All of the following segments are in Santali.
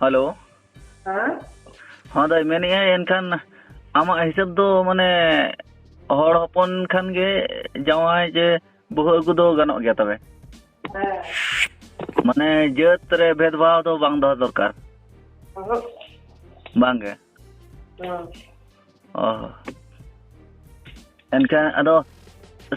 ᱦᱮᱞᱳ ᱦᱮᱸ ᱦᱚᱸ ᱫᱟᱹᱭ ᱢᱮᱱᱮᱫ ᱟᱹᱧ ᱮᱱᱠᱷᱟᱱ ᱟᱢᱟᱜ ᱦᱤᱥᱟᱹᱵ ᱫᱚ ᱢᱟᱱᱮ ᱦᱚᱲ ᱦᱚᱯᱚᱱ ᱠᱷᱟᱱ ᱜᱮ ᱡᱟᱶᱟᱭ ᱡᱮ ᱵᱟᱹᱦᱩ ᱟᱹᱜᱩ ᱫᱚ ᱜᱟᱱᱚᱜ ᱜᱮᱭᱟ ᱛᱚᱵᱮ ᱦᱮᱸ ᱢᱟᱱᱮ ᱡᱟᱹᱛ ᱨᱮ ᱵᱷᱮᱫᱽᱵᱷᱟᱣ ᱫᱚ ᱵᱟᱝ ᱫᱚᱦᱚ ᱫᱚᱨᱠᱟᱨ ᱚᱦᱚᱸᱜ ᱵᱟᱝᱜᱮ ᱦᱮᱸ ᱮᱱᱠᱷᱟᱱ ᱟᱫᱚ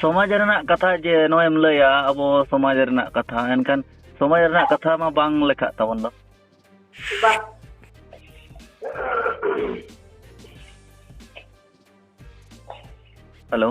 ᱥᱚᱢᱟᱡᱽ ᱨᱮᱱᱟᱜ ᱠᱟᱛᱷᱟ ᱡᱮ ᱱᱚᱜᱼᱚᱭᱮᱢ ᱞᱟᱹᱭᱟ ᱟᱵᱚ ᱥᱚᱢᱟᱡᱽ ᱨᱮᱱᱟᱜ ᱠᱟᱛᱷᱟ ᱮᱱᱠᱷᱟᱱ ᱥᱚᱢᱟᱡᱽ ᱨᱮᱱᱟᱜ ᱠᱟᱛᱷᱟ ᱢᱟ ᱵᱟᱝ ᱞᱮᱠᱷᱟᱜ ᱛᱟᱵᱚᱱ ᱫᱚ ᱵᱟᱝ ᱦᱮᱞᱳ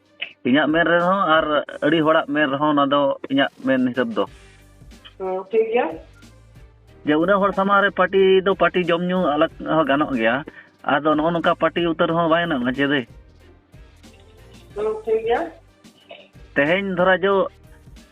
ᱤᱧᱟᱹᱜ ᱢᱮᱱ ᱨᱮᱦᱚᱸ ᱟᱨ ᱟᱹᱰᱤ ᱦᱚᱲᱟᱜ ᱢᱮᱱ ᱨᱮᱦᱚᱸ ᱚᱱᱟ ᱫᱚ ᱤᱧᱟᱹᱜ ᱢᱮᱱ ᱦᱤᱥᱟᱹᱵ ᱫᱚ ᱴᱷᱤᱠ ᱜᱮᱭᱟ ᱡᱮ ᱩᱱᱟᱹᱜ ᱦᱚᱲ ᱥᱟᱢᱟᱝ ᱨᱮ ᱯᱟᱨᱴᱤ ᱫᱚ ᱯᱟᱨᱴᱤ ᱡᱚᱢ ᱧᱩ ᱟᱞᱟᱜ ᱦᱚᱸ ᱜᱟᱱᱚᱜ ᱜᱮᱭᱟ ᱟᱫᱚ ᱱᱚᱜᱼᱚ ᱱᱚᱝᱠᱟ ᱯᱟᱨᱴᱤ ᱩᱛᱟᱹᱨ ᱦᱚᱸ ᱵᱟᱭ ᱜᱟᱱᱚᱜᱼᱟ ᱪᱮᱫ ᱴᱷᱤᱠ ᱜᱮᱭᱟ ᱛᱮᱦᱮᱧ ᱫᱷᱚᱨᱟ ᱡᱚ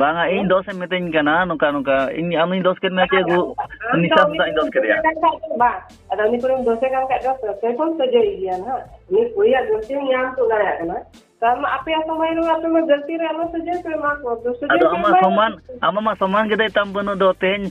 ᱵᱟᱝᱟ ᱤᱧ ᱫᱚᱥ ᱮᱢ ᱢᱤᱛᱟᱹᱧ ᱠᱟᱱᱟ ᱱᱚᱝᱠᱟ ᱱᱚᱝᱠᱟ ᱤᱧ ᱟᱢᱤᱧ ᱫᱚᱥ ᱠᱮᱫ ᱢᱮᱭᱟ ᱪᱮ ᱜᱩ ᱱᱤᱥᱟ ᱥᱟᱞᱟᱜ ᱤᱧ ᱫᱚᱥ ᱠᱮᱫᱮᱭᱟ ᱟᱫᱚ ᱟᱢᱟᱜ ᱥᱚᱢᱟᱱ ᱟᱢᱟᱜ ᱢᱟ ᱥᱚᱢᱟᱱ ᱜᱮ ᱫᱟᱭ ᱛᱟᱢ ᱵᱟᱹᱱᱩᱜ ᱫᱚ ᱛᱮᱦᱮᱧ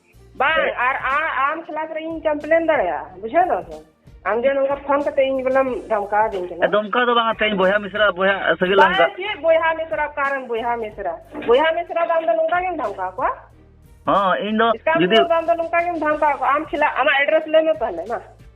ᱵᱟᱝ ᱟᱨ ᱟᱢ ᱠᱷᱤᱞᱟᱯ ᱨᱮ ᱤᱧ ᱠᱚᱢᱯᱞᱮᱱ ᱫᱟᱲᱮᱭᱟᱜᱼᱟ ᱵᱩᱡᱷᱟᱹᱣ ᱫᱟᱢ ᱥᱮ ᱟᱢ ᱡᱮ ᱱᱚᱝᱠᱟ ᱯᱷᱳᱱ ᱠᱟᱛᱮ ᱤᱧ ᱵᱚᱞᱮᱢ ᱫᱷᱚᱢᱠᱟ ᱫᱤᱧ ᱠᱟᱱᱟ ᱫᱚᱢᱠᱟ ᱫᱚ ᱵᱟᱝ ᱛᱮᱦᱮᱧ ᱵᱚᱭᱦᱟ ᱢᱤᱥᱨᱟ ᱵᱚᱭᱦᱟ ᱥᱟᱹᱜᱟᱹᱭ ᱞᱟᱝ ᱵᱟᱝ ᱪᱮᱫ ᱵᱚᱭᱦᱟ ᱢᱤᱥᱨᱟ ᱠᱟᱨᱮᱱ ᱵᱚᱭᱦᱟ ᱢᱤᱥᱨᱟ ᱵᱚᱭᱦᱟ ᱢᱤᱥᱨᱟ ᱫᱚ ᱟᱢ ᱫᱚ ᱱᱚᱝᱠᱟ ᱜᱮᱢ ᱫᱷᱚᱢᱠᱟ ᱠᱚᱣᱟ ᱦᱚᱸ ᱤᱧ ᱫᱚ ᱡᱩᱫᱤ ᱟᱢ ᱫᱚ ᱱᱚᱝᱠᱟ ᱜᱮᱢ ᱫᱷᱚᱢᱠᱟ ᱠᱚᱣᱟ ᱟᱢ ᱠᱷᱤᱞᱟᱯ ᱟᱢᱟᱜ ᱮᱰᱨᱮᱥ ᱞᱟᱹᱭ ᱢᱮ ᱛᱟᱦᱚᱞᱮ ᱢᱟ